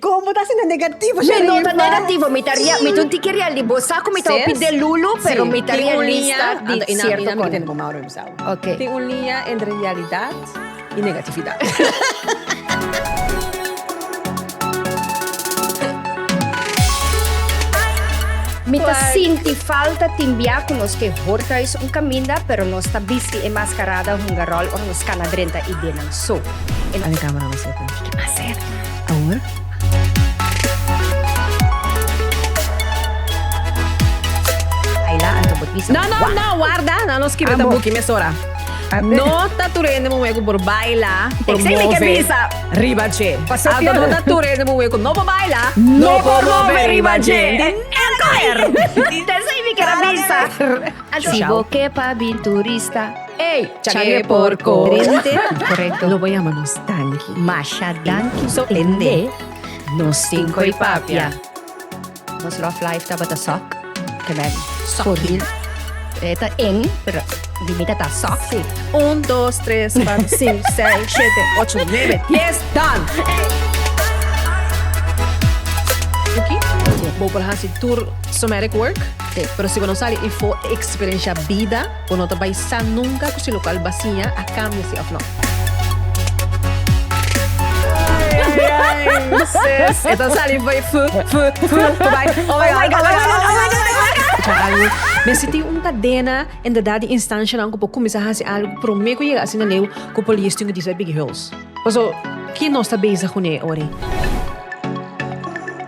Kon bo ta hasi na negativo, Sherlyn? Mi no ta negativo, mi ta rea, mi ta un tiki reali, bo sa ku mi ta hopi de lulu, pero mi ta realista di sierto kona. Oke. Tin un liña entre realidat i negatividat. Mi ta sinti falta tin bia ku nos ke Horthuis un kaminda, pero nos ta bisti e maskarada hungaròl ora nos kana drenta idenan. So, e. No no no warda nan lo skibi ta buki mesora no ta tur hende muhé ku por baila por move riba dje anto no ta tur hende muhé ku no por baila no por move riba dje esei mi ker a bisa. Ey, changé porco. Drente. Correcto. Lo voy a llamar nos danki. Masha danki. So ende. Nos tin coi papia. Nos love life taba ta sok. Te ben. Soril. Eta en, pero limita ta sok. Sí. Un, dos, tres, cuatro, cinco, seis, siete, ocho, nueve, diez, dan! Oké. Bo por hasi tur somatic work. Sí. Pero si bo no sali y for experiencia bida. Bo no ta bai sa nunka ku si lokal basiña a kambia si òf no. Sis, e ta sali bai fu, fu, fu, ku bai. Oh my God, oh my God, oh my God. Escucha algu, mi a sinti un kadena en dedat di instanshanan ku por kuminsá hasi algu promé ku yega asina leu ku por listo in Gedicht Big Hulst. Paso, ke nos ta bezig kuné ora ei?